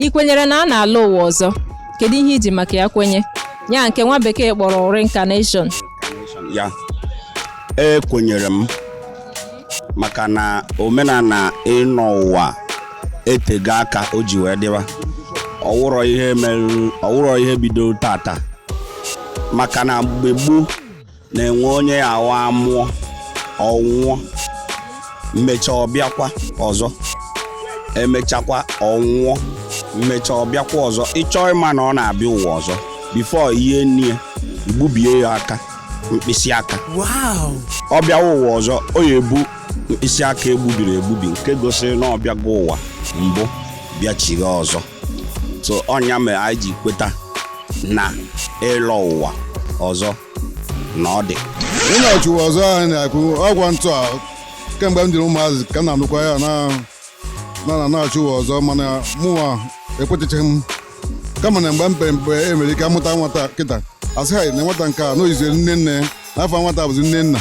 Ị kwenyere na a na-alọ ụwa ọzọ? Kedu ihe iji maka ya kwenye? Ya nke nwa bekee kpọrọ reincarnation. Ya ekwenyere m maka na omenala ịnọ ụwa etego aka o ji wee dịwa ọ wụrọ ihe mere ọ wụrọ ihe bido taata maka na mgbe gboo na-enwe onye ya awụ a mụọ ọ nwụọ emechaa ọ bịakwa ọzọ emechakwa ọ nwụọ emechaa ọ bịakwa ọzọ ị chọọ ịma na ọ na-abịa ụwa ọzọ before e nie ya e gbubie ya aka mkpịsị aka ọ bịawa ụwa ọzọ ọ ya ebu mkpịsị aka egbubiri egbubi nke gosiri na ọ bịago ụwa mbụ bịachigha ọzọ so ọ nya mere anyị ji kweta na ịlọ ụwa ọzọ na ọ dị ịnachi ụwa ọzọ ahụ na-ekwu okwu ya ntụ a kemgbe m dịrị ụmụazị ka m na-anụkwa ya na a na-anachi ụwa ọzọ mana mụnwa ekwetachaghị m kama na mgbe m pere mpe e nwere ike a mụta nwata kịta a sị ha na nwata nke a na o yizi nne nne n'afọ nwata bụzi nne nna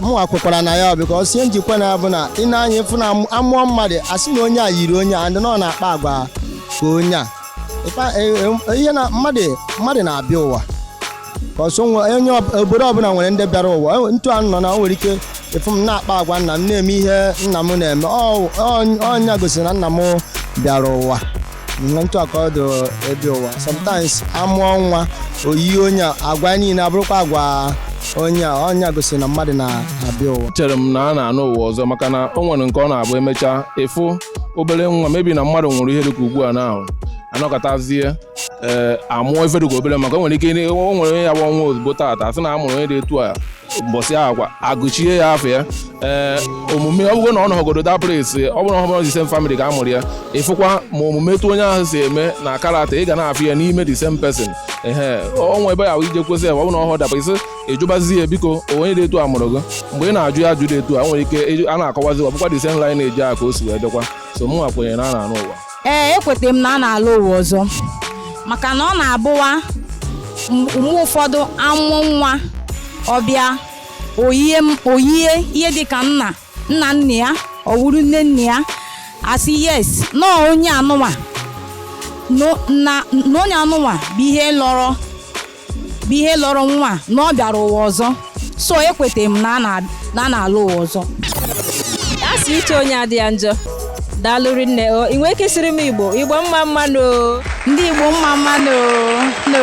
mụwa kwekwara na ya because ihe m ji kwe na ya bụ na i nee anya ị fụ na a mụọ mmadụ a sị na onye a yiri onye a and na ọ na-akpa agwa ka onye a Ịkpa- e- e- ihe na mmadụ mmadụ na-abịa ụwa because o nwe onye ọ- obodo ọbụla nwere ndị bịara ụwa E- ntu a nọ na o nwere ike ị fụ m na-akpa agwa nna m na-eme ihe nna m na-eme Ọ- ọ- ọ nya gosiri na nna m bịara ụwa Ihe ntụ a ka ọ dị ịbịa ụwa sometimes a mụọ nwa o yie onye a, agwa niile abụrụkwa agwa onye a ọ nya gosiri na mmadụ na-abịa ụwa chere m na a na-anọ ụwa ọzọ maka na o nwere nke ọ na-abụ emechaa ị fụ obere nwa maybe na mmadụ nwụrụ ihe dịka ugbu a na ahụ a nọkatazie ee a mụọ ife dịka obere maka o nwere ike ịdị- o nwere onye ya bụ ọ nwụọ ozugbo taata a sị na a mụrụ onye dị etu a mbọsị ahụ kwa a gụchie ya afa ya ee omume ọ bụrụ na ọ nọgodo that place ọ bụrụ na ọ bụrụ the same family ka a mụrụ ya ị fụkwa ma omume etu onye ahụ si eme na character ị ga na-afụ ya n'ime the same person ee o nwe ebe ya ije kwesị ya ọ bụrụ na ọhụ daba isi ị jụbazie ya biko onye dị etu a mụrụ gị mgbe ị na-ajụ ya ajụjụ dị etu a nwere ike a na-akọwazi ọ bụkwa the same line na-eji aka o si wee dịkwa so mụnwa kwenyere na a na-anọ ụwa ee ekwetara m na a na-alọ ụwa ọzọ maka na ọ na-abụwa mgbe ụfọdụ a mụọ nwa ọ bịa o yie o yie ihe dịka nna nna nna ya ọ wụrụ nne nne ya a sị yes na onye anụwa na onye anụwa bụ ihe lọrọ bụ ihe lọrọ nwa na ọ bịara ụwa ọzọ so ekwetara m na a na- na a na-alọ ụwa ọzọ a sị uche onye adị ya njọ daalụ rinne o ị nwee ike sịrị m igbo igbo mma mma nụ ndị igbo mma mma nụ nụ